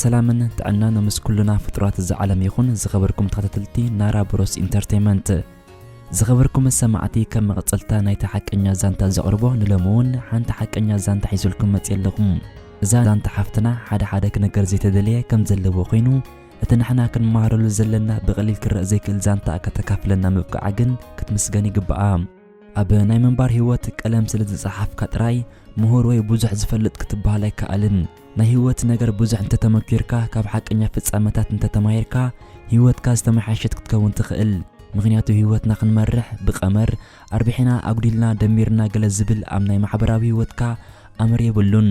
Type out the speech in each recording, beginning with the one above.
ሰላምን ጥዕናን ምስ ኩሉና ፍጡራት እዛ ዓለም ይኹን ዝኸበርኩም ተኸታተልቲ ናራ ብሮስ ኢንተርተይመንት። ዝኸበርኩም ሰማዕቲ ከም መቐጸልታ ናይቲ ሓቀኛ ዛንታ ዘቕርቦ ንሎሚ እውን ሓንቲ ሓቀኛ ዛንታ ሒዘልኩም መጽየ ኣለኹ። እዛ ዛንታ ሓፍትና ሓደ ሓደ ክነገር ዘይተደለየ ከም ዘለዎ ኮይኑ እቲ ንሕና ክንመሃረሉ ዘለና ብቐሊል ክረእ ዘይክእል ዛንታኣ ከተካፍለና ምብቃዓ ግን ክትምስገን ይግባኣ። ኣብ ናይ ምንባር ህይወት ቀለም ስለ ዝጸሓፍካ ጥራይ ምሁር ወይ ብዙሕ ዝፈልጥ ክትበሃል ኣይከኣልን። ናይ ህይወት ነገር ብዙሕ እንተተመኪርካ ካብ ሓቀኛ ፍጻመታት እንተተማሂርካ ህይወትካ ዝተመሓየሸት ክትከውን ትኽእል። ምክንያቱ ህይወትና ክንመርሕ ብቀመር ኣርቢሕና ኣጉዲልና ደሚርና ገለ ዝብል ኣብ ናይ ማሕበራዊ ህይወትካ ኣምር የብሉን።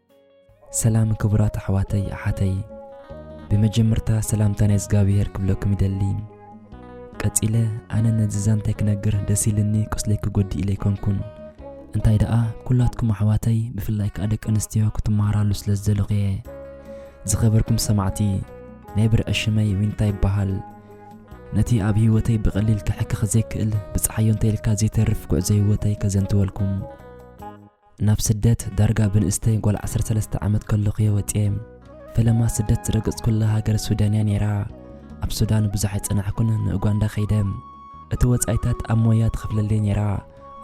ሰላም ክቡራት ኣሕዋተይ ኣሓተይ ብመጀመርታ ሰላምታ ናይ እግዚኣብሄር ክብለኩም ይደሊ ቀጺለ ኣነ ነዚ ዛንታይ ክነግር ደስ ኢልኒ ቁስለይ ክጎዲ ኢለ ኣይኮንኩን እንታይ ደኣ ኩላትኩም ኣሕዋተይ ብፍላይ ከዓ ደቂ ኣንስትዮ ክትመሃራሉ ስለ ዝደለኹ እየ ዝኸበርኩም ሰማዕቲ ናይ ብርዒ ሽመይ ዊንታ ይበሃል ነቲ ኣብ ህይወተይ ብቐሊል ክሕክኽ ዘይክእል ብፀሓዮ እንተይልካ ዘይተርፍ ጉዕዞ ህይወተይ ከዘንትወልኩም ናብ ስደት ዳርጋ ብንእስተይ ጓል ዓሰርተ ሰለስተ ዓመት ከለኹ'የ ወጺኤ። ፈለማ ስደት ዝረገጽኩላ ሃገር ሱዳን'ያ ነይራ። ኣብ ሱዳን ብዙሕ ኣይጸናሕኩን ንኡጋንዳ ከይደ። እቲ ወጻኢታት ኣብ ሞያ ትኸፍለለይ ነይራ።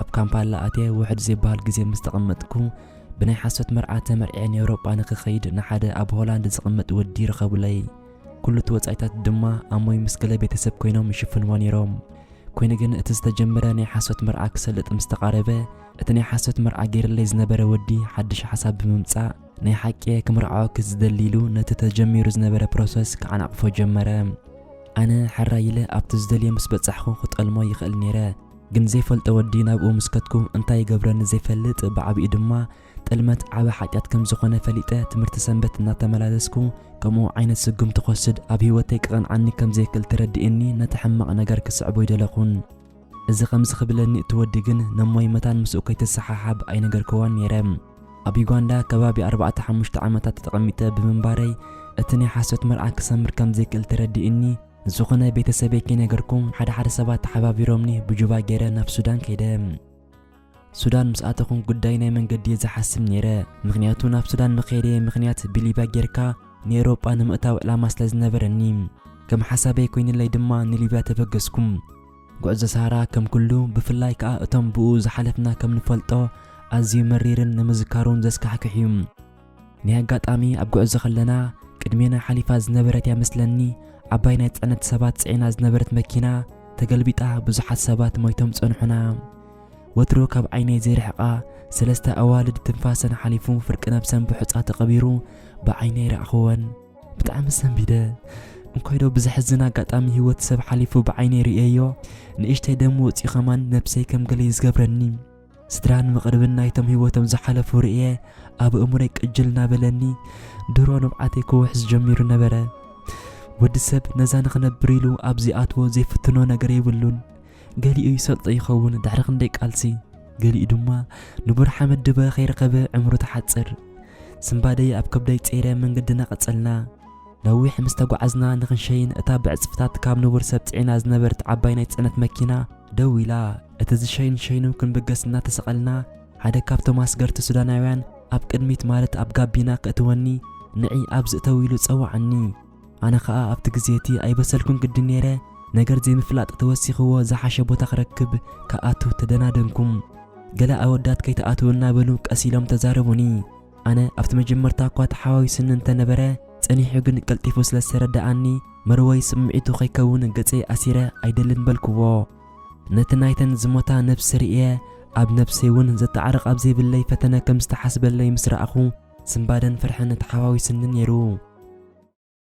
ኣብ ካምፓላ ኣትየ ውሑድ ዘይብሃል ግዜ ምስ ተቐመጥኩ ብናይ ሓሶት መርዓ ተመርዕየ ንኤውሮጳ ንክኸይድ ንሓደ ኣብ ሆላንድ ዝቕመጥ ወዲ ረኸቡለይ። ኩሉ እቲ ወጻኢታት ድማ ኣሞይ ምስ ገለ ቤተሰብ ኮይኖም ይሽፍንዎ ነይሮም። ኮይኑ ግን እቲ ዝተጀመረ ናይ ሓሶት መርዓ ክሰልጥ ምስ ተቓረበ እቲ ናይ ሓሶት መርዓ ጌርለይ ዝነበረ ወዲ ሓድሽ ሓሳብ ብምምጻእ ናይ ሓቂየ ክምርዓወኪ ዝደሊ ኢሉ ነቲ ተጀሚሩ ዝነበረ ፕሮሰስ ክዓናቕፎ ጀመረ። ኣነ ሕራይ ኢለ ኣብቲ ዝደልዮ ምስ በጻሕኩ ክጠልሞ ይኽእል ኔረ፣ ግን ዘይፈልጦ ወዲ ናብኡ ምስ ከድኩ እንታይ ይገብረኒ ዘይፈልጥ ብዓቢኡ ድማ ጥልመት ዓቢ ሓጢኣት ከም ዝኾነ ፈሊጠ ትምህርቲ ሰንበት እናተመላለስኩ ከምኡ ዓይነት ስጉምቲ ክወስድ ኣብ ህይወተይ ክቐንዓኒ ከም ዘይክእል ተረዲኡኒ ነቲ ሕማቕ ነገር ክስዕቦ ኣይደለኹን። እዚ ከምዚ ክብለኒ እቲ ወዲ ግን ነሞይ መታን ምስኡ ከይትሰሓሓብ ኣይነገርክዎን ነይረ። ኣብ ዩጋንዳ ከባቢ ኣርባዕተ ሓሙሽተ ዓመታት ተቐሚጠ ብምንባረይ እቲ ናይ ሓሶት መርዓ ክሰምር ከም ዘይክእል ተረዲእኒ። ንዝኾነ ቤተሰበይ ከይነገርኩ ሓደ ሓደ ሰባት ተሓባቢሮምኒ ብጁባ ገይረ ናብ ሱዳን ከይደ። ሱዳን ምስ ኣተኹም ጉዳይ ናይ መንገዲ እየ ዝሓስብ ነይረ ምኽንያቱ ናብ ሱዳን መኸይደየ ምኽንያት ብሊብያ ጌርካ ንኤሮጳ ንምእታው ዕላማ ስለ ዝነበረኒ ከም ሓሳበይ ኮይንለይ ድማ ንሊብያ ተበገስኩም። ጉዕዞ ሳራ ከም ኩሉ ብፍላይ ከኣ እቶም ብኡ ዝሓለፍና ከም ንፈልጦ ኣዝዩ መሪርን ንምዝካሩውን ዘስካሕክሕዩ። ናይ ኣጋጣሚ ኣብ ጉዕዞ ከለና ቅድሜና ሓሊፋ ዝነበረት እያ መስለኒ ዓባይ ናይ ፅዕነት ሰባት ፅዒና ዝነበረት መኪና ተገልቢጣ ብዙሓት ሰባት ሞይቶም ፀንሑና ወትሩ ካብ ዓይነይ ዘይርሕቃ ሰለስተ ኣዋልድ ትንፋሰን ሓሊፉ ፍርቂ ነብሰን ብሑፃ ተቐቢሩ ብዓይነይ ረኣኽወን ብጣዕሚ ሰንቢደ እንኮይ ዶ ብዘሕዝን ኣጋጣሚ ህይወት ሰብ ሓሊፉ ብዓይነይ ርእየዮ ንእሽተይ ደም ወፂኡ ኸማን ነብሰይ ከም ገለይ ዝገብረኒ ስድራን መቕርብን ናይቶም ህይወቶም ዝሓለፉ ርእየ ኣብ እእምሮይ ቅጅል እናበለኒ ድሮ ንብዓተይ ክውሕዝ ጀሚሩ ነበረ። ወዲ ሰብ ነዛ ንኽነብር ኢሉ ኣብ ዚኣትዎ ዘይፍትኖ ነገር የብሉን። ገሊኡ ይሰልጦ ይኸውን ድሕሪ ክንደይ ቃልሲ፣ ገሊኡ ድማ ንቡር ሓመድ ድበ ከይረኸበ ዕምሩ ትሓጽር። ስንባደይ ኣብ ከብደይ ጸይረ መንገድና ቀጸልና። ነዊሕ ምስ ተጓዓዝና ንኽንሸይን እታ ብዕጽፍታት ካብ ንቡር ሰብ ጽዒና ዝነበረት ዓባይ ናይ ጽዕነት መኪና፣ ደው ኢላ እቲ ዝሸይን ሸይኑ ክንብገስ እናተሰቐልና ሓደ ካብቶም ኣስገርቲ ሱዳናውያን ኣብ ቅድሚት ማለት ኣብ ጋቢና ከእትወኒ ንዒ ኣብዚ እተው ኢሉ ጸውዓኒ። ኣነ ከኣ ኣብቲ ግዜ እቲ ኣይበሰልኩን ግዲ ነይረ ነገር ዘይምፍላጥ ተወሲኽዎ ዝሓሸ ቦታ ክረክብ ክኣቱ ተደናደንኩም። ገለ ኣወዳት ከይትኣትው እናበሉ ቀስ ኢሎም ተዛረቡኒ። ኣነ ኣብቲ መጀመርታ እኳ ተሓዋዊስኒ እንተ ነበረ፣ ጸኒሑ ግን ቀልጢፉ ስለ ዝተረድኣኒ፣ መርወይ ስምዒቱ ከይከውን ገጸይ ኣሲረ ኣይደልን በልክዎ። ነቲ ናይተን ዝሞታ ነብሲ ርእየ፣ ኣብ ነብሰይ እውን ዘተዓርቕ ኣብ ዘይብለይ ፈተነ ከም ዝተሓስበለይ ምስ ረኣኹ፣ ስንባደን ፍርሕን ተሓዋዊስኒ ነይሩ።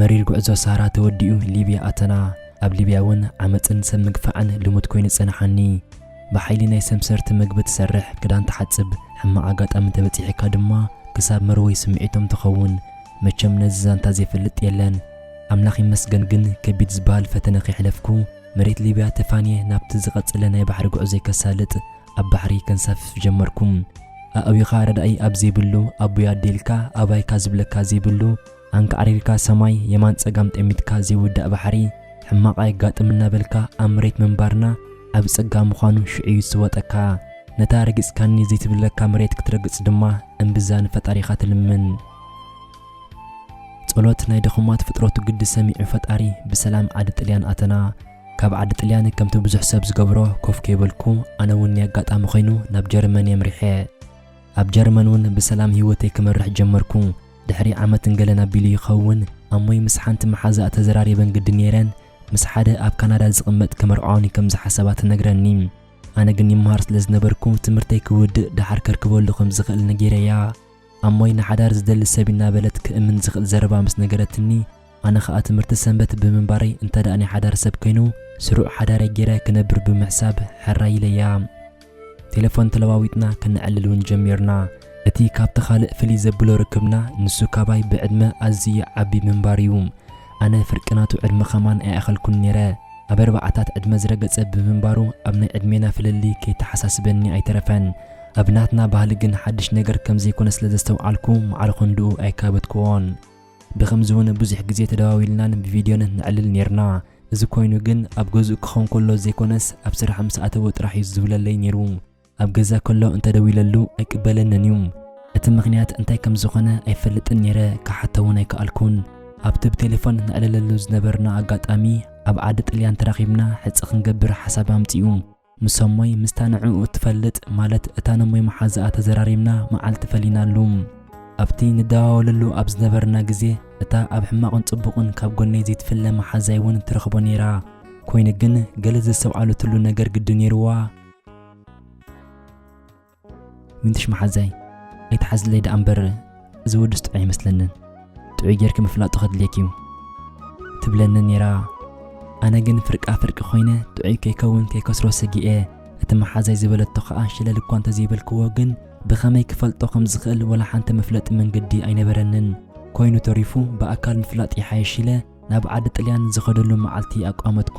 መሪር ጉዕዞ ሳራ ተወዲኡ ሊብያ ኣተና። ኣብ ሊብያ እውን ዓመጽን ሰብ ምግፋዕን ልሙድ ኮይኑ ጸንሓኒ። ብሓይሊ ናይ ሰምሰርቲ መግቢ ትሰርሕ፣ ክዳን ትሓጽብ፣ ሕማቕ ኣጋጣሚ እንተበጺሒካ ድማ ክሳብ መርወይ ስምዒቶም ትኸውን። መቸም ነዚ ዛንታ ዘይፈልጥ የለን። ኣምላኽ ይመስገን ግን ከቢድ ዝበሃል ፈተነ ከይሕለፍኩ መሬት ሊብያ ተፋንየ ናብቲ ዝቐጸለ ናይ ባሕሪ ጉዕዞይ ከሳልጥ ኣብ ባሕሪ ከንሳፍፍ ጀመርኩ። ኣእዊኻ ረዳኢ ኣብ ዘይብሉ ኣቦይ ኣዴ ኢልካ ኣባይካ ዝብለካ ዘይብሉ ኣንቃዕሪርካ ሰማይ የማን ጸጋም ጠሚትካ ዘይውዳእ ባሕሪ ሕማቕ ኣየጋጥም እናበልካ ኣብ መሬት ምንባርና ዓቢ ጸጋ ምዃኑ ሽዑ እዩ ዝስወጠካ። ነታ ረጊጽካኒ ዘይትብለካ መሬት ክትረግጽ ድማ እምብዛ ንፈጣሪኻ ትልምን። ጸሎት ናይ ድኹማት ፍጥረቱ ግዲ ሰሚዑ ፈጣሪ ብሰላም ዓዲ ጥልያን ኣተና። ካብ ዓዲ ጥልያን ከምቲ ብዙሕ ሰብ ዝገብሮ ኮፍ ከይበልኩ ኣነ እውን ናይ ኣጋጣሚ ኮይኑ ናብ ጀርመን የምሪሐ። ኣብ ጀርመን እውን ብሰላም ህይወተይ ክመርሕ ጀመርኩ። ድሕሪ ዓመትን ገለን ኣቢሉ ይኸውን ኣሞይ ምስ ሓንቲ መሓዛኣ ተዘራሪበን ግዲ ኔረን ምስ ሓደ ኣብ ካናዳ ዝቕመጥ ክምርዓውኒ ከም ዝሓሰባ ትነግረኒ። ኣነ ግን ይመሃር ስለ ዝነበርኩ ትምህርተይ ክውድእ ደሓር ከርክበሉ ከም ዝኽእል ነጊረያ። ኣሞይ ንሓዳር ዝደሊ ሰብ ኢና በለት ክእምን ዝኽእል ዘረባ ምስ ነገረትኒ፣ ኣነ ከኣ ትምህርቲ ሰንበት ብምንባረይ እንተደኣ ናይ ሓዳር ሰብ ኮይኑ ስሩዕ ሓዳረይ ገይረ ክነብር ብምሕሳብ ሕራይ ኢለያ። ቴለፎን ተለዋዊጥና ከነዕልል እውን ጀሚርና። እቲ ካብቲ ካልእ ፍልይ ዘብሎ ርክብና ንሱ ካባይ ብዕድመ ኣዝዩ ዓቢ ምንባሩ እዩ። ኣነ ፍርቂ ናቱ ዕድመ ከማን ኣይኣኸልኩን ነይረ። ኣብ ኣርባዓታት ዕድመ ዝረገጸ ብምንባሩ ኣብ ናይ ዕድሜና ፍልልይ ከይተሓሳስበኒ ኣይተረፈን። ኣብ ናትና ባህሊ ግን ሓድሽ ነገር ከም ዘይኮነ ስለ ዘስተውዓልኩ ማዕረ ክንድኡ ኣይካበትኩዎን። ብኸምዚ እውን ብዙሕ ግዜ ተደዋዊልናን ብቪድዮን ነዕልል ኔርና። እዚ ኮይኑ ግን ኣብ ገዝኡ ክኸውን ከሎ ዘይኮነስ ኣብ ስራሕ ምስ ኣተወ ጥራሕ እዩ ዝዝውለለይ ኔሩ። ኣብ ገዛ ከሎ እንተደዊለሉ ኣይቅበለንን እዩ። እቲ ምኽንያት እንታይ ከም ዝኾነ ኣይፈልጥን ኔረ፣ ክሓቶ እውን ኣይከኣልኩን። ኣብቲ ብቴሌፎን ነዕልለሉ ዝነበርና ኣጋጣሚ ኣብ ዓዲ ጥልያን ተራኺብና ሕጽ ክንገብር ሓሳብ ኣምጺኡ። ምስ ኣሞይ ምስታ ንዕኡ እትፈልጥ ማለት እታ ነሞይ መሓዝኣ ተዘራሪብና መዓልቲ ፈሊናሉ። ኣብቲ ንደዋወለሉ ኣብ ዝነበርና ግዜ እታ ኣብ ሕማቕን ጽቡቕን ካብ ጎነይ ዘይትፍለ መሓዛይ እውን ትረኽቦ ነይራ። ኮይኑ ግን ገለ ዘስተውዓለትሉ ነገር ግዲ ነይሩዋ። ምንትሽ መሓዛይ ኣይትሓዝለይ ደኣ እምበር እዚ ወድስ ጥዑይ ኣይመስለንን ጥዑይ ጌርኪ ምፍላጡ ከድልየኪ እዩ ትብለኒ ነይራ ኣነ ግን ፍርቃ ፍርቂ ኮይነ ጥዑይ ከይከውን ከይከስሮ ሰጊኤ እቲ መሓዛይ ዝበለቶ ከዓ ሽለል እኳ እንተዘይበልክዎ ግን ብኸመይ ክፈልጦ ከም ዝኽእል ወላ ሓንቲ መፍለጢ መንገዲ ኣይነበረንን ኮይኑ ተሪፉ ብኣካል ምፍላጥ ይሓይሽ ኢለ ናብ ዓዲ ጥልያን ዝኸደሉ መዓልቲ ኣቋመትኩ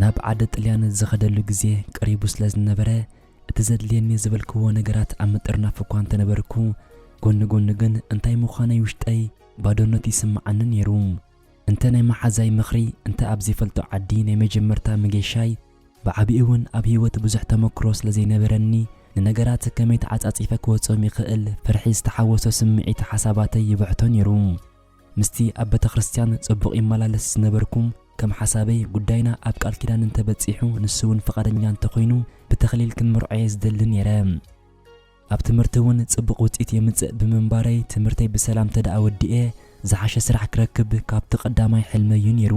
ናብ ዓደ ጥልያን ዝኸደሉ ግዜ ቀሪቡ ስለ ዝነበረ እቲ ዘድልየኒ ዝበልክዎ ነገራት ኣብ ምጥርናፍ እኳ እንተነበርኩ ጎኒ ጎኒ ግን እንታይ ምዃነይ ውሽጠይ ባዶነት ይስምዓኒ ነይሩ። እንተ ናይ መሓዛይ ምኽሪ እንተ ኣብ ዘይፈልጦ ዓዲ ናይ መጀመርታ መገሻይ ብዓቢኡ'ውን ኣብ ህይወት ብዙሕ ተመክሮ ስለ ዘይነበረኒ፣ ንነገራት ከመይ ተዓጻጺፈ ክወጾም ይኽእል ፍርሒ ዝተሓወሶ ስምዒት ሓሳባተይ ይብሕቶ ነይሩ። ምስቲ ኣብ ቤተክርስትያን ጽቡቕ ይመላለስ ዝነበርኩ፣ ከም ሓሳበይ ጉዳይና ኣብ ቃል ኪዳን እንተ በጺሑ ንሱ'ውን ፍቓደኛ እንተ ኾይኑ ብተኽሊል ክምርዖ'የ ዝደሊ ነይረ። ኣብ ትምህርቲ እውን ፅቡቕ ውፅኢት የምፅእ ብምንባረይ ትምህርተይ ብሰላም ተድኣ ወዲኤ ዝሓሸ ስራሕ ክረክብ ካብቲ ቀዳማይ ሕልመይ እዩ ነይሩ።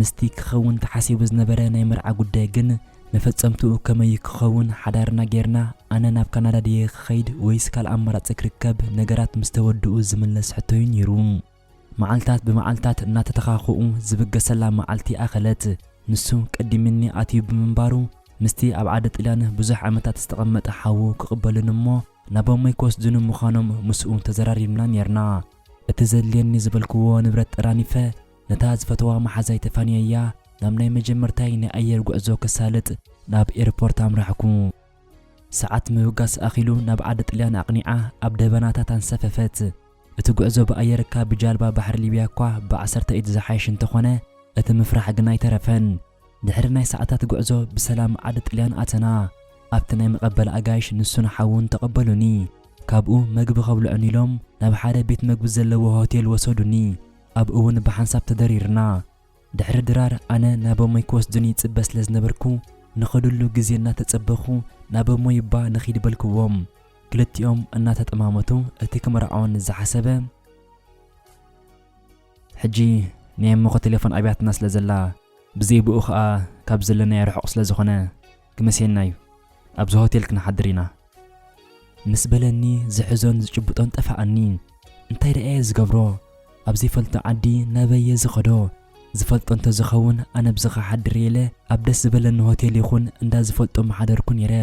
ምስቲ ክኸውን ተሓሲቡ ዝነበረ ናይ መርዓ ጉዳይ ግን መፈፀምትኡ ከመይ እዩ ክኸውን ሓዳርና ገይርና ኣነ ናብ ካናዳ ድየ ክኸይድ ወይስ ካልእ ኣማራፂ ክርከብ ነገራት ምስተወድኡ ዝምለስ ሕቶ እዩ ነይሩ። መዓልታት ብመዓልታት እናተተኻኽኡ ዝብገሰላ መዓልቲ ኣኸለት። ንሱ ቀዲሚኒ ኣትዩ ብምንባሩ፣ ምስቲ ኣብ ዓዲ ጥልያን ብዙሕ ዓመታት ዝተቐመጠ ሓዉ ክቕበሉኒ እሞ ናቦመይ ክወስዱኒ ምዃኖም ምስኡ ተዘራሪብና ኔርና። እቲ ዘድልየኒ ዝበልክዎ ንብረት ጠራኒፈ ነታ ዝፈትዋ መሓዛይ ተፋንየያ ናብ ናይ መጀመርታይ ናይ ኣየር ጉዕዞ ከሳልጥ ናብ ኤርፖርት ኣምራሕኩ። ሰዓት ምብጋስ ኣኺሉ ናብ ዓዲ ጥልያን ኣቕኒዓ ኣብ ደበናታት ኣንሰፈፈት። እቲ ጉዕዞ ብኣየር እካ ብጃልባ ባሕሪ ሊብያ እኳ ብዓሰርተ ኢድ ዝሓይሽ እንተኾነ እቲ ምፍራሕ ግን ኣይተረፈን። ድሕሪ ናይ ሰዓታት ጉዕዞ ብሰላም ዓዲ ጥልያን ኣተና። ኣብቲ ናይ መቐበሊ ኣጋይሽ ንሱን ሓዉን ተቐበሉኒ። ካብኡ መግቢ ከብልዑኒ ኢሎም ናብ ሓደ ቤት መግቢ ዘለዎ ሆቴል ወሰዱኒ። ኣብኡ'ዉን ብሓንሳብ ተደሪርና። ድሕሪ ድራር ኣነ ናብ ኣሞይ ክወስዱኒ ይጽበ ስለ ዝነበርኩ ንኸድሉ ግዜ እናተጸበኹ ናብ ኣሞይ እባ ንኺድ በልክዎም። ክልቲኦም እናተጠማመቱ እቲ ክምርዓወኒ ዝሓሰበ። ሕጂ ናይ ኣሞኺ ቴሌፎን ኣብያትና ስለ ዘላ ብዘይ ብኡ ኸኣ ካብ ዘለናዮ ርሑቕ ስለ ዝኾነ። ክመሴና እዩ ኣብዚ ሆቴል ክንሓድር ኢና ምስ በለኒ ዝሕዞን ዝጭብጦን ጠፋኣኒ እንታይ ደኣየ ዝገብሮ ኣብ ዘይፈልጦ ዓዲ ናበየ ዝኸዶ ዝፈልጦ እንተዝኸውን ኣነ ብዚ ክሓድር ኢለ ኣብ ደስ ዝበለኒ ሆቴል ይኹን እንዳ ዝፈልጦ ምሓደርኩ ነይረ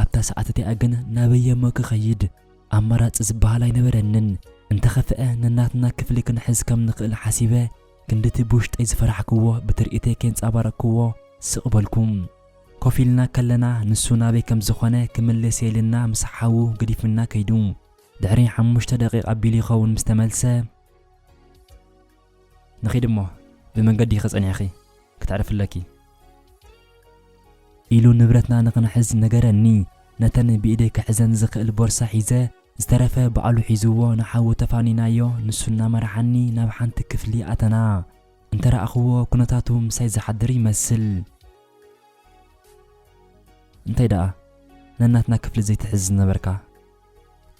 ኣብታ ሰዓት እቲኣ ግን ናበየ እሞ ክኸይድ ኣማራፂ ዝበሃል ኣይነበረንን እንተኸፍአ ነናትና ክፍሊ ክንሕዝ ከም ንኽእል ሓሲበ ክንድቲ ብውሽጠይ ዝፈራሕክዎ ብትርኢተይ ኬንጻባረቅክዎ ስቅ በልኩ። ኮፍ ኢልና ከለና ንሱ ናበይ ከም ዝኮነ ክምልስ የኢልና ምስ ሓዉ ገዲፍና ከይዱ። ድሕሪ ሓሙሽተ ደቂቅ ኣቢሉ ይከውን ምስ ተመልሰ። ንኪድ እሞ ብመንገዲኪ ጸኒሕኪ ክተዕርፊ ኣለኪ። ኢሉ ንብረትና ንክንሕዝ ነገረኒ። ነተን ብኢደይ ክሕዘን ዝክእል ቦርሳ ሒዘ ዝተረፈ ባዕሉ ሒዝዎ ንሓዉ ተፋኒናዮ ንሱ እናመርሓኒ ናብ ሓንቲ ክፍሊ ኣተና እንተረኣኽዎ ኩነታቱ ምሳይ ዝሓድር ይመስል። እንታይ ደኣ ነናትና ክፍሊ ዘይትሕዝ ዝነበርካ?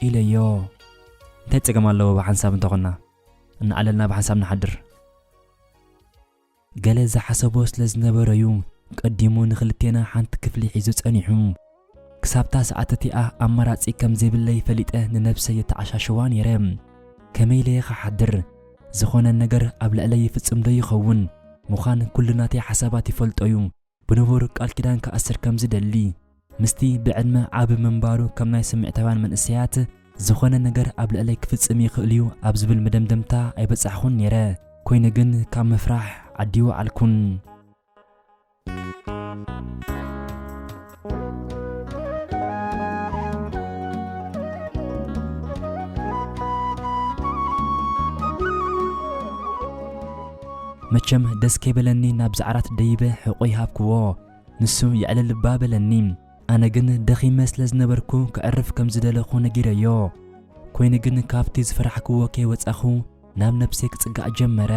ኢለዮ። እንታይ ጸገም ኣለዎ ብሓንሳብ እንተኾንና? እናዕለልና ብሓንሳብ ንሓድር። ገለ ዝሓሰቦ ስለ ዝነበረ'ዩ ቀዲሙ ንኽልቴና ሓንቲ ክፍሊ ሒዙ ጸኒሑ። ክሳብ'ታ ሰዓት እቲኣ ኣማራጺ ከም ዘይብለይ ፈሊጠ ንነብሰይ የተዓሻሽዋ ነይረ። ከመይ ኢለ'የ ክሓድር? ዝኾነ ነገር ኣብ ልዕለይ ይፍጽም'ዶ ይኸውን? ምዃን ኩሉ ናተይ ሓሳባት ይፈልጦ'ዩ። ብንቡር ቃል ኪዳን ክኣስር ከም ዝደሊ፣ ምስቲ ብዕድመ ዓቢ ምንባሩ ከም ናይ ስምዒታውያን መንእሰያት ዝኾነ ነገር ኣብ ልዕለይ ክፍጽም ይኽእል'ዩ ኣብ ዝብል መደምደምታ ኣይበጻሕኹን ነይረ። ኮይኑ ግን ካብ ምፍራሕ ኣዲወዓልኩን። መቸም ደስ ከይበለኒ ናብዚ ዓራት ደይበ ሕቖይ ሃብክዎ። ንሱ የዕልል እባ በለኒ። ኣነ ግን ደኺመ ስለ ዝነበርኩ ከዕርፍ ከም ዝደለኹ ነጊረዮ። ኮይኑ ግን ካብቲ ዝፈራሕክዎ ከይወጻኹ ናብ ነብሰይ ክጽጋዕ ጀመረ።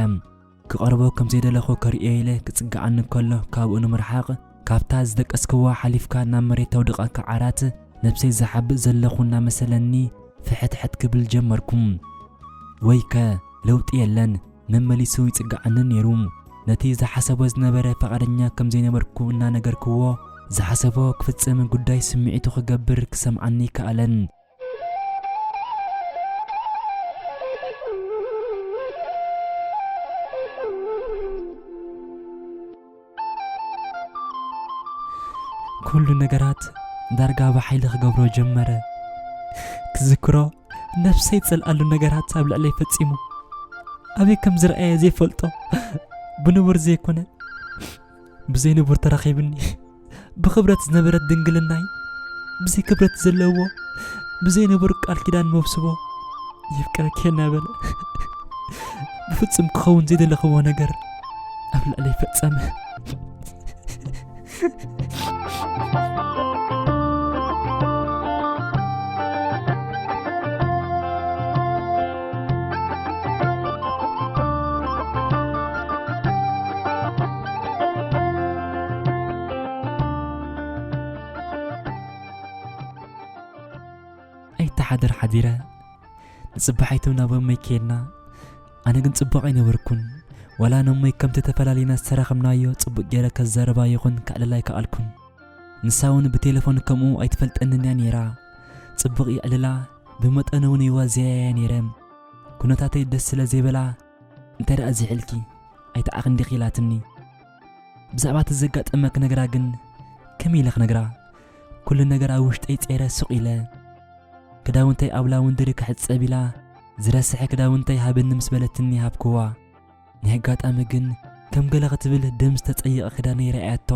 ክቐርቦ ከም ዘይደለኹ ከርእዮ ኢለ ክጽግዓኒ ከሎ ካብኡ ንምርሓቕ ካብታ ዝደቀስክዋ ሓሊፍካ ናብ መሬት ተውድቐካ ዓራት ነብሰይ ዝሓብእ ዘለኹ እናመሰለኒ ፍሕትሕት ክብል ጀመርኩ። ወይከ! ለውጢ የለን። መመሊሱ ይጽግዓኒ ነይሩ። ነቲ ዝሓሰቦ ዝነበረ ፍቓደኛ ከም ዘይነበርኩ እናነገርክዎ፣ ዝሓሰቦ ክፍጽም ጉዳይ ስምዒቱ ክገብር ክሰምዓኒ ኣይከኣለን። ኩሉ ነገራት ዳርጋ ብሓይሊ ክገብሮ ጀመረ ክዝክሮ ነፍሰይ ዝጸልኣሉ ነገራት ኣብ ልዕለይ ፈጺሙ ኣበይ ከም ዝረኣየ ዘይፈልጦ ብንቡር ዘይኮነ ብዘይንቡር ተራኺብኒ ብክብረት ዝነበረት ድንግልናይ ብዘይ ክብረት ዘለዎ ብዘይ ነበሩ ቃል ኪዳን መብስቦ የፍቅረኪ እናበለ ብፍጹም ክኸውን ዘይደለኽዎ ነገር ኣብ ልዕለይ ፈጸመ ኣይተሓደር ሓዲረ ንፅባሒቱ ናብ እመይ ከይድና ኣነ ግን ፅቡቕ ኣይነበርኩን ዋላ ንእመይ ከምቲ ተፈላለና ዝተራኸብናዮ ፅቡቕ ገይረ ከዛረባ ይኹን ክዕልላ ኣይከኣልኩን ንሳ እውን ብቴሌፎን ከምኡ ኣይትፈልጠንን እያ ነይራ ፅቡቕ ይዕልላ ብመጠኑ እውን ይዋዘያ እያ ነይረ ኩነታተይ ደስ ስለ ዘይበላ እንተ ደኣ ዝሕልኪ ኣይተዓኽ እንዲኺ ኢላትኒ ብዛዕባ እቲ ዘጋጠመ ክነግራ ግን ከመይ ኢለ ክነግራ ኩሉ ነገር ኣብ ውሽጠይ ጸይረ ስቕ ኢለ ክዳውንተይ ኣብ ላውንድሪ ክሕጸብ ኢላ ዝረስሐ ክዳውንተይ ሃበኒ ምስ በለትኒ ሃብክዋ ናይ ኣጋጣሚ ግን ከም ገለ ክትብል ደም ዝተጸየቐ ክዳነይ ረኣያቶ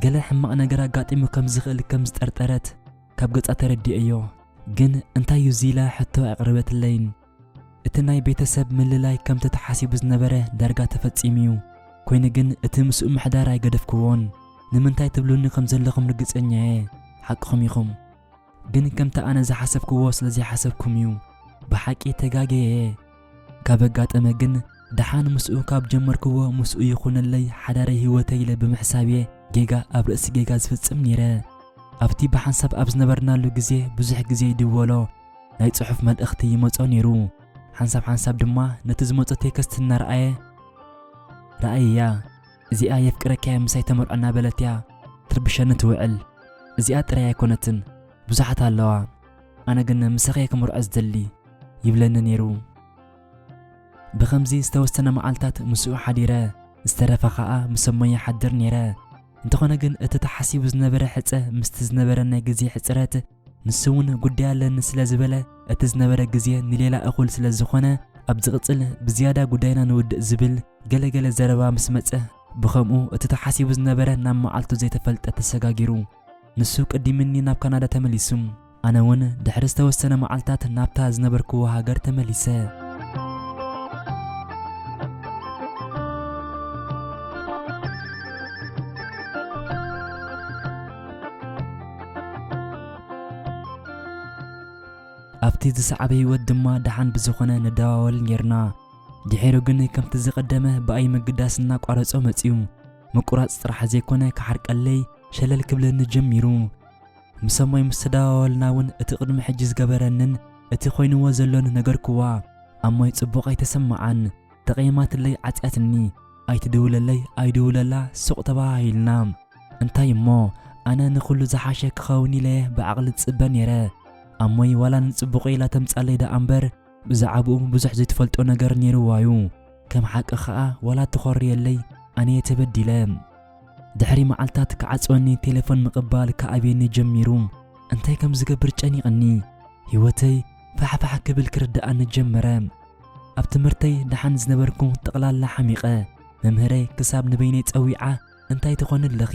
ገለ ሕማቕ ነገር ኣጋጢሙ ከም ዝኽእል ከም ዝጠርጠረት ካብ ገጻ ተረዲኦዮ ግን እንታይ እዩ እዚ ኢላ ሕቶ ኣቕረበትለይን እቲ ናይ ቤተሰብ ምልላይ ከምቲ ተሓሲቡ ዝነበረ ዳርጋ ተፈጺሙ እዩ። ኮይኑ ግን እቲ ምስኡ ምሕዳር ኣይገደፍክዎን። ንምንታይ ትብሉኒ ከም ዘለኹም ርግጸኛ እየ፣ ሓቅኹም ኢኹም። ግን ከምቲ ኣነ ዝሓሰብክዎ ስለ ዘይሓሰብኩም እዩ። ብሓቂ ተጋግየ እየ። ካብ ኣጋጠመ ግን ደሓን ምስኡ ካብ ጀመርክዎ ምስኡ ይኹነለይ ሓዳረይ ህይወተይ ኢለ ብምሕሳብ እየ ጌጋ ኣብ ርእሲ ጌጋ ዝፍጽም ነይረ። ኣብቲ ብሓንሳብ ኣብ ዝነበርናሉ ግዜ ብዙሕ ግዜ ይድወሎ። ናይ ጽሑፍ መልእኽቲ ይመጾ ነይሩ። ሓንሳብ ሓንሳብ ድማ ነቲ ዝመጾ ቴክስት እናረኣየ ረኣይያ፣ እዚኣ የፍቅረኪ'ያ ምሳይ ተመርዖ እናበለት'ያ ትርብሸኒ ትውዕል። እዚኣ ጥራይ ኣይኮነትን ብዙሓት ኣለዋ፣ ኣነ ግን ምሳኺ'የ ክምርዖ ዝደሊ ይብለኒ ነይሩ። ብኸምዚ ዝተወሰነ መዓልታት ምስኡ ሓዲረ፣ ዝተረፈ ከኣ ምሰ'ሞ ይሓድር ነይረ። እንተኾነ ግን እቲ ተሓሲቡ ዝነበረ ሕጸ ምስቲ ዝነበረን ናይ ግዜ ሕጽረት፣ ንሱ እውን ጉዳይ ኣለኒ ስለ ዝበለ እቲ ዝነበረ ግዜ ንሌላ እኹል ስለ ዝኾነ ኣብ ዝቕጽል ብዝያዳ ጉዳይና ንውድእ ዝብል ገለ ገለ ዘረባ ምስ መጸ ብኸምኡ እቲ ተሓሲቡ ዝነበረ ናብ መዓልቱ ዘይተፈልጠ ተሰጋጊሩ ንሱ ቅዲምኒ ናብ ካናዳ ተመሊሱ ኣነ እውን ድሕሪ ዝተወሰነ መዓልታት ናብታ ዝነበርክዎ ሃገር ተመሊሰ። ኣብቲ ዝሰዓበ ህይወት ድማ ደሓን ብዝኾነ ንደዋወል ኔርና። ድሒሩ ግን ከምቲ ዝቐደመ ብኣይ ምግዳስ እናቋረጾ መጺኡ። ምቁራጽ ጥራሕ ዘይኮነ ክሓርቀለይ ሸለል ክብለኒ ጀሚሩ። ምስ ሰማይ ምስ ተደዋወልና እውን እቲ ቅድሚ ሕጂ ዝገበረንን እቲ ኮይንዎ ዘሎን ነገርኩዋ። ኣሞይ ጽቡቕ ኣይተሰመዓን። ተቐይማትለይ ዓጽያትኒ ኣይትድውለለይ ኣይድውለላ ሱቕ ተበሃሂልና እንታይ እሞ ኣነ ንኹሉ ዝሓሸ ክኸውን ኢለ ብዓቕሊ ዝጽበ ነይረ ኣሞይ ዋላ ንጽቡቐይ ኢላ ተምጻለይ ደኣ እምበር ብዛዕብኡ ብዙሕ ዘይትፈልጦ ነገር ነይርዋዩ ከም ሓቂ ከኣ ዋላ ተኾርየለይ ኣነየ ተበዲለ ድሕሪ መዓልታት ክዓጽወኒ ቴሌፎን ምቕባል ክኣብየኒ ጀሚሩ እንታይ ከም ዝገብር ጨኒቕኒ ህይወተይ ፋሕፋሕ ክብል ክርድኣኒ ጀመረ ኣብ ትምህርተይ ደሓን ዝነበርኩ ጠቕላላ ሓሚቐ መምህረይ ክሳብ ንበይነይ ጸዊዓ እንታይ ትኾኒ ኣለኺ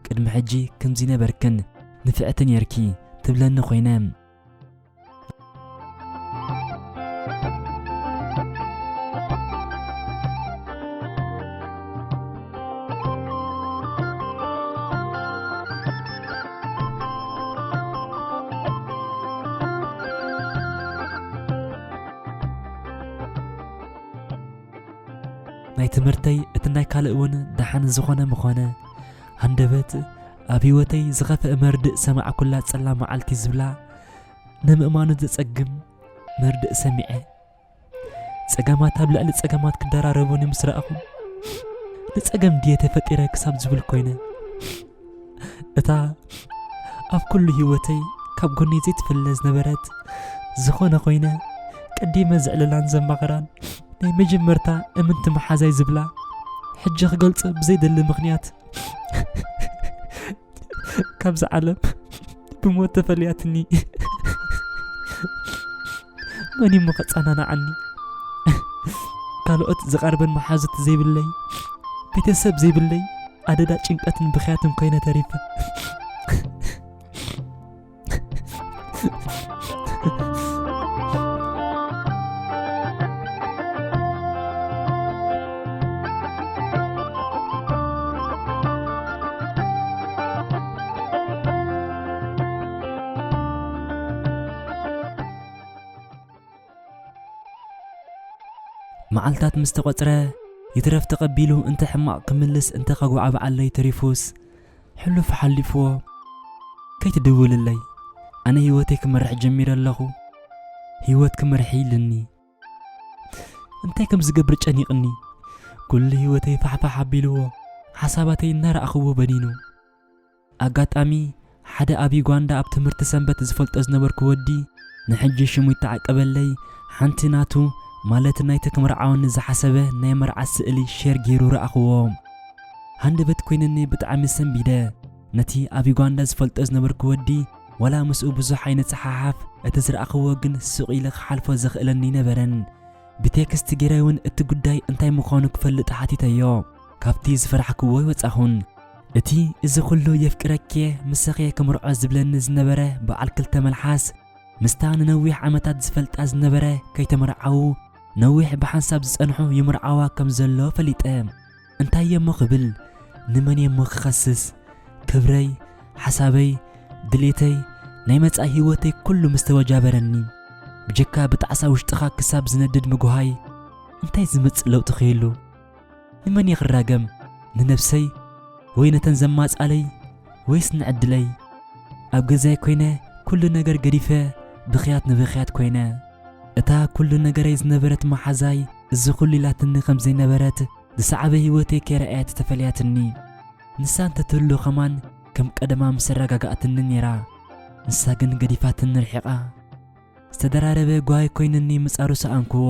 ቅድሚ ሕጂ ከምዚ ነበርክን ንፍዕቲ ኔርኪ ትብለኒ ኮይነ። ናይ ትምህርተይ እቲ ናይ ካልእ እውን ደሓን ዝኾነ ምኾነ ሃንደበት ኣብ ህይወተይ ዝኸፍአ መርድእ ሰማዕኩላ ጸላ መዓልቲ ዝብላ ንምእማኑ ዘጸግም መርድእ ሰሚዐ ጸገማት ኣብ ልዕሊ ጸገማት ክደራረቡኒ ምስ ረኣኹ ንጸገም ድየ ተፈጢረ ክሳብ ዝብል ኮይነ እታ ኣብ ኩሉ ህይወተይ ካብ ጎነይ ዘይትፍለ ዝነበረት ዝኾነ ኮይነ ቀዲመ ዝዕልላን ዘማኽራን ናይ መጀመርታ እምንቲ መሓዛይ ዝብላ ሕጂ ክገልጾ ብዘይደሊ ምኽንያት ካብዚ ዓለም ብሞት ተፈልያትኒ መን እዩሞ ከጸናናዓኒ ካልኦት ዝቐርበን መሓዙት ዘይብለይ ቤተሰብ ዘይብለይ ኣደዳ ጭንቀትን ብክያትን ኮይነ ተሪፈ መዓልታት ምስ ተቖጽረ ይትረፍ ተቐቢሉ እንተ ሕማቕ ክምልስ እንተ ከጓዓብዓለይ ተሪፉስ ሕሉፍ ሓሊፍዎ ከይትድውልለይ ኣነ ህይወተይ ክመርሕ ጀሚረ ኣለኹ ህይወት ክመርሒ ኢልኒ እንታይ ከም ዝገብር ጨኒቕኒ ኩሉ ህይወተይ ፋሕፋሕ ኣቢልዎ ሓሳባተይ እናረኣኽዎ በኒኑ ኣጋጣሚ፣ ሓደ ኣብ ዩጋንዳ ኣብ ትምህርቲ ሰንበት ዝፈልጦ ዝነበርኩ ወዲ፣ ንሕጂ ሽሙ ይተዓቀበለይ፣ ሓንቲ ናቱ፣ ማለት ናይቲ ክምርዓወኒ ዝሓሰበ ናይ መርዓ ስእሊ ሼር ገይሩ ረኣኹዎ። ሃንደበት ኰይኑኒ ብጣዕሚ ሰንቢደ። ነቲ ኣብ ዩጋንዳ ዝፈልጦ ዝነበርኩ ወዲ ዋላ ምስኡ ብዙሕ ኣይንጸሓሓፍ፣ እቲ ዝረኣኹዎ ግን ስቕ ኢለ ክሓልፎ ዘኽእለኒ ኣይነበረን። ብቴክስት ገይረ'ውን እቲ ጉዳይ እንታይ ምዃኑ ክፈልጥ ሓቲተዮ። ካብቲ ዝፈራሕክዎ ኣይወጻኹን። እቲ እዚ ኹሉ የፍቅረኪ'የ ምሳኺ'የ ክምርዖ ዝብለኒ ዝነበረ በዓል ክልተ መልሓስ፣ ምስታ ንነዊሕ ዓመታት ዝፈልጣ ዝነበረ ከይተመርዓዉ ነዊሕ ብሓንሳብ ዝጸንሑ ይምርዓዋ ከም ዘሎ ፈሊጠ። እንታይ'የ'ሞ ክብል ንመን'የ'ሞ ክኸስስ? ክብረይ፣ ሓሳበይ፣ ድሌተይ፣ ናይ መጻኢ ህይወተይ ኩሉ ምስ ተወጃበረኒ፣ ብጀካ ብጣዕሳ ውሽጥኻ ክሳብ ዝነድድ ምጉሃይ እንታይ ዝመጽእ ለውጢ ክህሉ? ንመን እየ ክራገም? ንነብሰይ ወይ ነተን ዘማጻለይ ወይስ ንዕድለይ? ኣብ ገዛይ ኮይነ ኩሉ ነገር ገዲፈ ብኽያት ንብኽያት ኮይነ። እታ ኩሉ ነገረይ ዝነበረት መሓዛይ እዚ ኩሉ ኢላትኒ ከም ዘይነበረት ዝሰዓበ ህይወተይ ከይረኣየት ተፈልያትኒ። ንሳ እንተ ትህሉ ከማን ከም ቀደማ ምስ ኣረጋጋኣትኒ ኔራ። ንሳ ግን ገዲፋትኒ ርሒቓ። ዝተደራረበ ጓሂ ኮይንኒ ምጻሩ ሰኣንክዎ።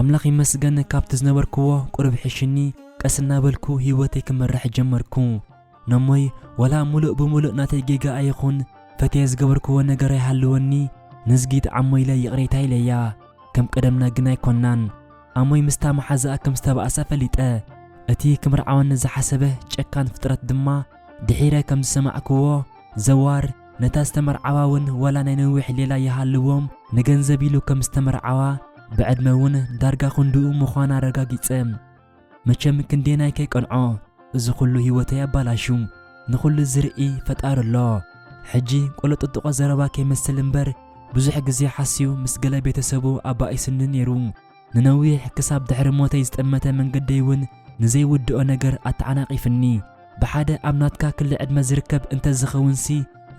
ኣምላኽ ይመስገን ካብቲ ዝነበርክዎ ቁሩብ ሒሽኒ ቀስ እናበልኩ ሂወተይ ክመርሕ ጀመርኩ። ነሞይ ወላ ሙሉእ ብሙሉእ ናተይ ጌጋ ኣይኹን ፈትየ ዝገበርክዎ ነገር ኣይሃልወኒ ንዝጊት ዓሞ ኢለ ይቕሬታ ኢለያ ከም ቀደምና ግን ኣይኮናን ኣሞይ ምስታ መሓዛኣ ከም ዝተባእሳ ፈሊጠ እቲ ክምርዓወኒ ዝሓሰበ ጨካን ፍጥረት ድማ ድሒረ ከም ዝሰማዕክዎ ዘዋር ነታ ዝተመርዓዋ ውን ወላ ናይ ነዊሕ ሌላ ይሃልዎም ንገንዘብ ኢሉ ከም ዝተመርዓዋ ብዕድመ ውን ዳርጋ ክንድኡ ምዃና ኣረጋጊጸ። መቸም ክንደየናይ ከይቀንዖ እዚ ኩሉ ሂወተይ ኣባላሹ ንኹሉ ዝርኢ ፈጣሪ ኣሎ ሕጂ ቆለጥጥቖ ዘረባ ከይመስል እምበር ብዙሕ ግዜ ሓስዩ ምስ ገለ ቤተሰቡ ኣባኢስኒ ኔሩ ንነዊሕ ክሳብ ድሕሪ ሞተይ ዝጠመተ መንገደይ እውን ንዘይውድኦ ነገር ኣተዓናቒፍኒ ብሓደ ኣብ ናትካ ክሊ ዕድመ ዝርከብ እንተዝኸውንሲ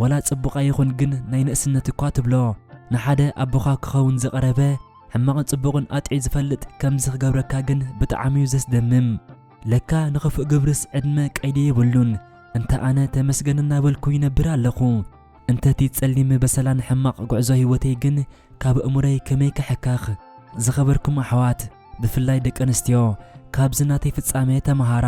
ዋላ ጽቡቕ ኣይኹን ግን ናይ ንእስነት እኳ ትብሎ ንሓደ ኣቦኻ ክኸውን ዝቐረበ ሕማቕን ጽቡቕን ኣጥዕዩ ዝፈልጥ ከምዚ ክገብረካ ግን ብጣዕሚ እዩ ዘስደምም። ለካ ንኽፉእ ግብርስ ዕድመ ቀይዲ የብሉን። እንተ ኣነ ተመስገን እናበልኩ ይነብር ኣለኹ። እንተ እቲ ጸሊም በሰላን ሕማቕ ጉዕዞ ህይወተይ ግን ካብ ኣእምሮይ ከመይ ክሕከኽ። ዝኸበርኩም ኣሕዋት ብፍላይ ደቂ ኣንስትዮ ካብዚ ናተይ ፍጻሜ ተመሃራ።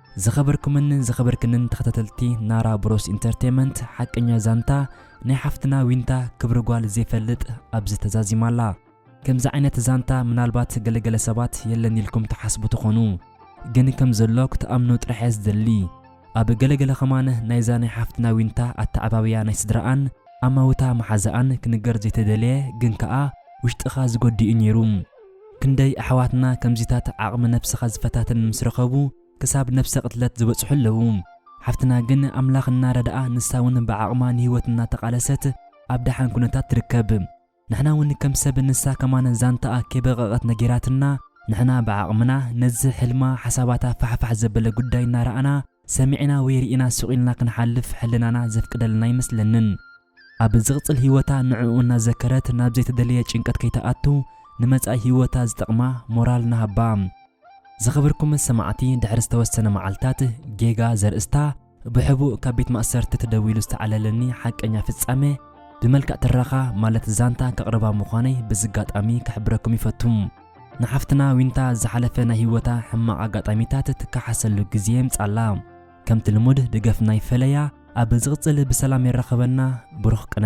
ዝኸበርኩምንን ዝኸበርክንን ተኸታተልቲ ናራ ብሮስ ኢንተርቴመንት ሓቀኛ ዛንታ ናይ ሓፍትና ዊንታ ክብሪ ጓል ዘይፈልጥ ኣብዚ ተዛዚማ ኣላ ከምዚ ዓይነት ዛንታ ምናልባት ገለ ገለ ሰባት የለን ኢልኩም ትሓስቡ ትኾኑ ግን ከም ዘሎ ክትኣምኑ ጥራሕ እየ ዝደሊ ኣብ ገለ ገለ ከማን ናይዛ ናይ ሓፍትና ዊንታ ኣተዓባብያ ናይ ስድራኣን ኣማውታ መሓዛኣን ክንገር ዘይተደለየ ግን ከኣ ውሽጥኻ ዝጎድእ እዩ ኔሩ ክንደይ ኣሕዋትና ከምዚታት ዓቕሚ ነብስኻ ዝፈታትን ምስ ረኸቡ ክሳብ ነብሰ ቅትለት ዝበጽሑ ኣለዉ። ሓፍትና ግን ኣምላኽ እናረድኣ ንሳውን ብዓቕማ ንህይወት እናተቓለሰት ኣብ ደሓን ኩነታት ትርከብ። ንሕናውን ከም ሰብ ንሳ ከማን ዛንታኣ ከይበቐቐት ነጊራትና ንሕና ብዓቕምና ነዚ ሕልማ ሓሳባታ ፋሕፋሕ ዘበለ ጉዳይ እናረኣና ሰሚዕና ወይ ርኢና ስቕ ኢልና ክንሓልፍ ሕልናና ዘፍቅደልና ኣይመስለንን። ኣብ ዝቕጽል ህይወታ ንዕኡ እናዘከረት ናብ ዘይተደለየ ጭንቀት ከይትኣቱ ንመጻኢ ህይወታ ዝጠቕማ ሞራል ንሃባ። ዝኸበርኩም ሰማዕቲ ድሕሪ ዝተወሰነ መዓልታት ጌጋ ዘርእስታ ብሕቡእ ካብ ቤት ማእሰርቲ ተደዊሉ ዝተዓለለኒ ሓቀኛ ፍጻመ ብመልክዕ ትረኻ ማለት ዛንታ ከቕርባ ምዃነይ በዚ ኣጋጣሚ ክሕብረኩም ይፈቱ። ንሓፍትና ዊንታ ዝሓለፈ ናይ ህይወታ ሕማቕ ኣጋጣሚታት ትከሓሰሉ ግዜ የምጻላ። ከምቲ ልሙድ ደገፍና ይፈለያ ኣብ ዝቕጽል ብሰላም የራኽበና ብሩኽ ቅነ።